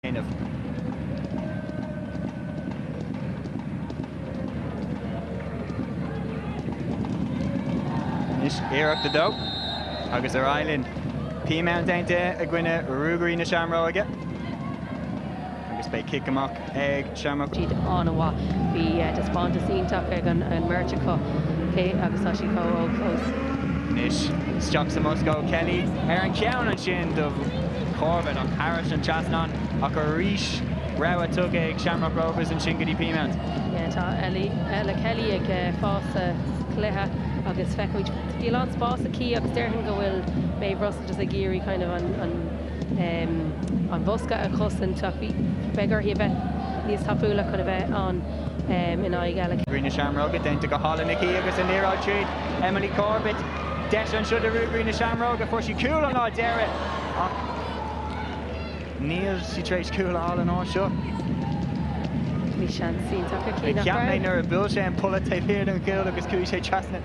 Anois iarracht a dó agus ar aghaidh linn. Peamount déanta i gcoinne Ruagairí na Seamróige. Agus beidh cic amach ag Shamrock. Siad an-mhaith. Bhí taispeántas iontach ag an mbeirt acu agus tá siad chomh hóg fós. anois. Isteach sa mbosca ó Kelly ar an gceann ansin do Corbett ach thairis an trasnán ach arís rabhadh tugtha ag Shamrock Rovers ansin go dtí Peamount. Tá Ella Kelly ag fás sa chluiche agus feicimid bhí a lán spás aici agus déarfainn go bhfuil Maeve Russell just ag iarraidh kind of an an bosca a chosaint ach beidh uirthi a bheith níos tapúla chun a bheith ann in aghaidh Ella. Ruagairí na Seamróige déanta go hálainn aici agus an liathróid tríd Emily Corbett. Deis anseo do Ruagairí na Seamróige, fuair sí cúl an lá deiridh ach níl sí tar éis cúl a fháil an uair seo. Bhí seans iontach aici nach raibh? Cheap mé nuair a bhuail sé an polla taobh thiar den chúl agus chuaigh sé trasna.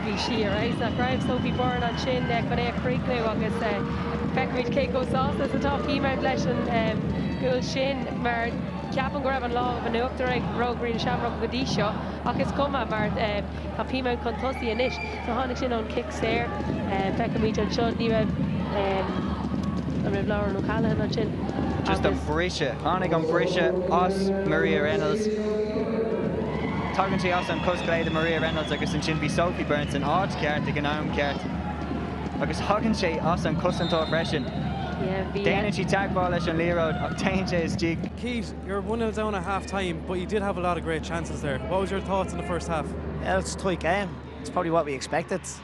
Bhí sí ar fheabhas nach raibh? Sophie Byrne ansin chun é a chríochnú agus feicfimid cé chomh sásta is atá Peamount leis an gcúl sin mar ceapaim go raibh an lámh in uachtar ag Ruagairí na Seamróige go dtí seo ach is cuma mar tá Peamount chun tosaigh anois. So tháinig sin ón chic saor. Feicfimid anseo, ní raibh, an raibh Lauren O'Callaghan ansin agus. Just an briseadh. Tháinig an briseadh as Maria Reynolds. Tagann sé as an chos chlé de Maria Reynolds agus ansin bhí Sophie Byrne san áit cheart ag an am ceart agus thagann sé as an cosantóir freisin. Déanann sí teagmháil leis an liathróid ach téann sé isteach. Keith, you're one nil down at half time but you did have a lot of great chances there. What was your thoughts in the first half? Yeah, it's a tight game. It's probably what we expected.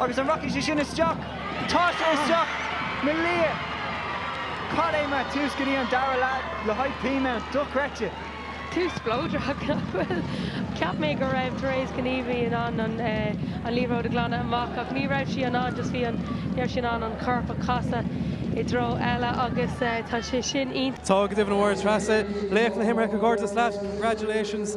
Agus an rachaidh sé sin isteach? Tá sé isteach! Ó Malia! Cad é mar tús go dtí an dara leath le haghaidh Peamount, dochreidte! Tús spleodrach, nach raibh? Cheap mé go raibh Therese Kinnevey in ann an liathróid a ghlanadh amach ach ní raibh sí in ann, just bhí an, ní raibh sí in ann an corp a chasadh i dtreo eile agus tá sé sin iontach. Tá, go deimhin. A Mháire Treasa, laoch na himeartha, comhghairdeas leat, congratulations.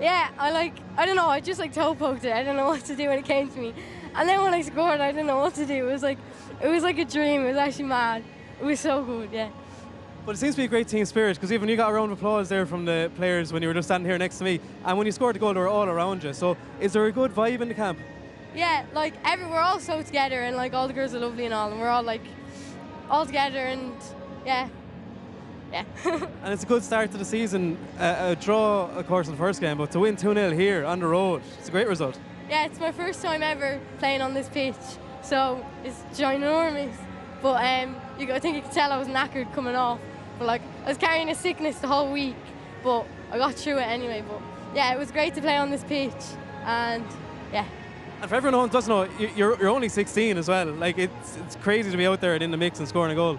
Yeah I like I don't know I just like toe poked it I don't know what to do when it came to me and then when I scored I don't know what to do it was like it was like a dream it was actually mad it was so good yeah. Well it seems to be a great team spirit because even you got a round of applause there from the players when you were just standing here next to me and when you scored the goal they were all around you so is there a good vibe in the camp? Yeah like every we're all so together and like all the girls are lovely and all and we're all like all together and yeah. It's a good start to the season a draw of course in the first game but to win two nil here on the road it's a great result. Yeah it's my first time ever playing on this pitch so it's ginormous but um you go I think you could tell I was knackered coming off but like I was carrying a sickness the whole week but I got through it anyway but yeah it was great to play on this pitch and yeah and for everyone who doesn't know you're, you're only 16 as well like it's it's crazy to be out there and in the mix and scoring a goal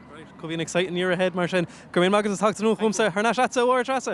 Great, could be an exciting year ahead mar sin. Go raibh maith agat as teacht anuas chugamsa. Thar n-ais leatsa, a Mháire Treasa!